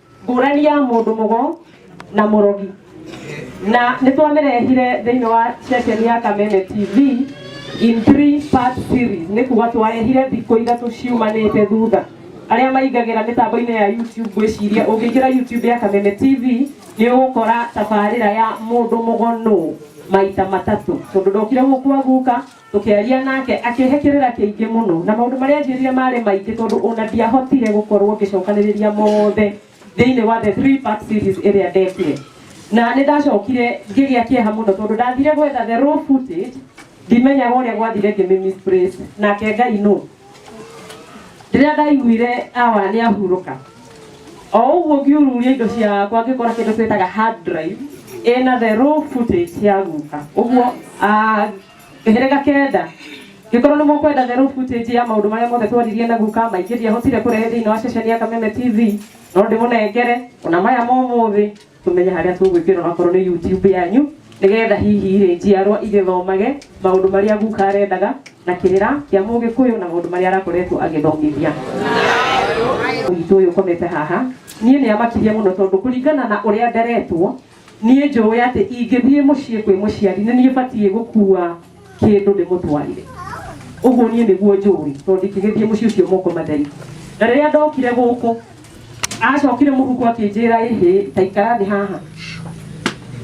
[SPEAKER 1] ngũrani ya mũndũ mũgo na mũrogi na nĩ twamĩrehire thĩinĩ wa ceceni ya kameme tv in three part series nĩ kuga twarehire thikũ ithatũ ciumanĩte thutha arĩa maingagĩra mĩtambo-inĩ ya youtube gwĩciria ũngĩingĩra youtube ya kameme tv nĩ ũgũkora tabarĩra ya mũndũ mũgonũ maita matatũ tondũ ndokire gũkwa guka Tũkĩaria nake, akĩhe kĩrĩra kĩingĩ mũno, na maũndũ marĩa aanjĩrire maarĩ maingĩ tondũ o na ndiahotire gũkorũo ngĩcokanĩrĩria mothe thĩinĩ wa The Three-Part Series ĩrĩa ndekire. Na nĩ ndacokire ngĩgĩa kĩeha mũno tondũ ndathire gwetha The Raw Footage, ndimenyaga ũrĩa gwathire ngĩmĩ-misplace. Nake Ngai nũ? Rĩrĩa ndaiguire Awa nĩ ahurũka, o ũguo ngiururia indo ciakwa ngĩkora kĩndũ twĩtaga hard drive ĩna The Raw Footage ya guka. Ũguo, ah, Kĩhĩrĩga kenda, Ngĩkorwo nĩ mũkwenda therũ footage ya maũndũ marĩa mothe twaririe na guka maingĩ ndiahotire kũrehe thĩinĩ wa ceceni ya Kameme TV no ndĩmũnengere ona maya ma ũmũthĩ tũmenye harĩa tũgwĩkĩra onakorwo nĩ YouTube yanyu nĩgetha hihi rĩ njiarwa igĩthomage maũndũ marĩa guka arendaga na kĩrĩra kĩa mũgĩkũyũ na maũndũ marĩa arakoretwo agĩthomithia witũ ũyũ ũkomete haha niĩ nĩ amakirie mũno tondũ kũringana na ũrĩa nderetwo Niĩ njũĩ atĩ ingĩthiĩ mũciĩ kwĩ mũciari nĩ niĩ batiĩ gũkua kĩndũ ndĩmũtwarĩre. Ũguo niĩ nĩguo njũĩ tondũ ndingĩgĩthiĩ mũciĩ ũcio moko matheri. Na rĩrĩa ndokire gũkũ, acokire mũhuko akĩnjĩra ĩhĩ ta ikara thĩ haha.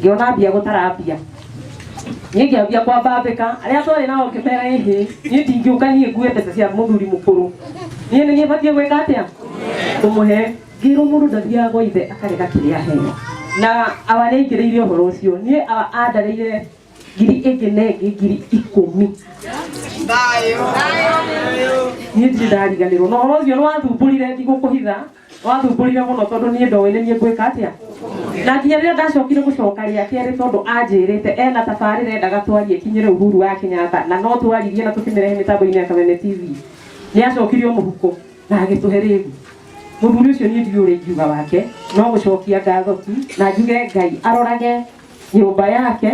[SPEAKER 1] Ngĩona ambia gũtara mbia. Niĩ ngĩambia kwambambĩka, arĩa twarĩ nao ngĩmera ĩhĩ, niĩ ndingĩũka niĩ ngue mbeca cia mũthuri mũkũrũ. Niĩ nĩ niĩ batiĩ gwĩka atĩa? Kũmũhe. Ngĩĩrwo mũndũ ndathiaga gwa ithe akarega kĩrĩa aheo. Na awa nĩaingĩrĩire ũhoro ũcio. Niĩ awa andareire ngiri ĩngĩ na ĩngĩ ngiri ikũmi. Niĩ ndirĩ ndariganĩrwo. Na ũhoro ũcio nĩwathumbũrire ndigũkũhitha. Nĩwathumbũrire mũno tondũ niĩ ndoĩ nĩ niĩ ngwĩka atĩa. Na nginya rĩrĩa ndacokire gũcoka rĩa kerĩ tondũ anjĩrĩte ena tabarĩra endaga twarie ĩkinyĩre Uhuru wa Kenyatta na no twaririe na tũkĩmĩrehe mĩtambo-inĩ ya Kameme TV. Nĩacokire o mũhuko. na agĩtũhe rĩu mũthuri ũcio niĩ ndiũrĩ ingiuga wake no gũcokia ngatho tu na njuge ngai arorage nyũmba yake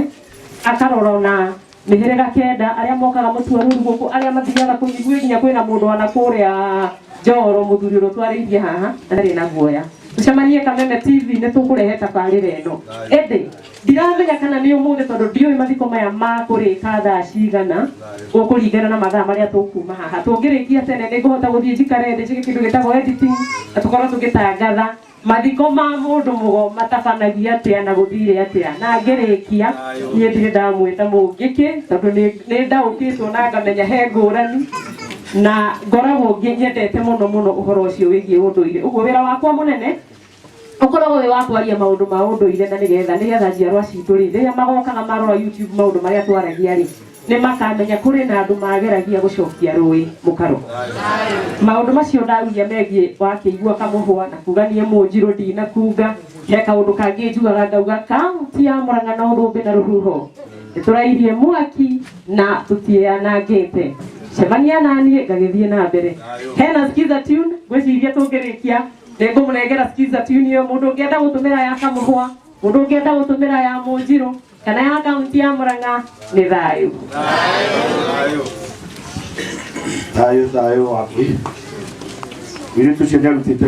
[SPEAKER 1] akarora ona mĩhĩrĩga kenda arĩa mokaga mũtuo rũru gũkũ arĩa mathiaga kũnyiguĩ nginya kwĩna mũndũ wana kũrĩa njoro mũthuri ũrĩa twarĩithie haha na ndarĩ na guoya tũcemanie kameme tv nĩ tũkũrehe tabarĩra ĩno ĩndĩ Ndiramenya kana nĩ ũmũthĩ tondũ ndiũĩ mathiko maya makũrĩka thaa cigana gũkũringana na mathaa marĩa tũkuma haha. Tũngĩrĩkia tene nĩ ngũhota gũthiĩ njikare thĩ njĩke kĩndũ gĩtagwo editing na tũkorwo tũgĩtangatha mathiko ma mũndũ mũgo matabanagia atĩa na gũthire atĩa. Na ngĩrĩkia niĩ ndirĩ ndamwĩta mũngĩkĩ tondũ nĩ nĩ ndaũkĩtwo na ngamenya he ngũrani na ngoragwo ngĩ- nyendete mũno mũno ũhoro ũcio wĩgiĩ ũndũire. Ũguo wĩra wakwa mũnene ũkoragwo wĩ wa kwaria maũndũ ma ũndũire na nĩgetha nĩgetha njiarwa citũ rĩ rĩrĩa magokaga marora YouTube maũndũ marĩa twaragia rĩ nĩ makamenya kũrĩ na andũ mageragia gũcokia rũĩ mũkaro maũndũ macio ndauria megiĩ wakĩigua kamũhwa na kuga niĩ mũnjirũ ndinakunga he kaũndũ kangĩ njugaga ngauga kaunti ya mũrang'a na ũthũmbĩ na rũhuho nĩtũrairie mwaki na tũtianangĩte cemania naniĩ ngagĩthiĩ na mbere hena skiza tune ngwĩciria tũngĩrĩkia nĩngũmũnengera skiza tune ĩyo mũndũ ũngĩenda gũtũmĩra ya kamũhwa mũndũ ũngĩenda gũtũmĩra ya mũnjirũ kana ya kaunti ya mũrang'a nĩ thayũ thayå thayå waku witå cio nä arutĩte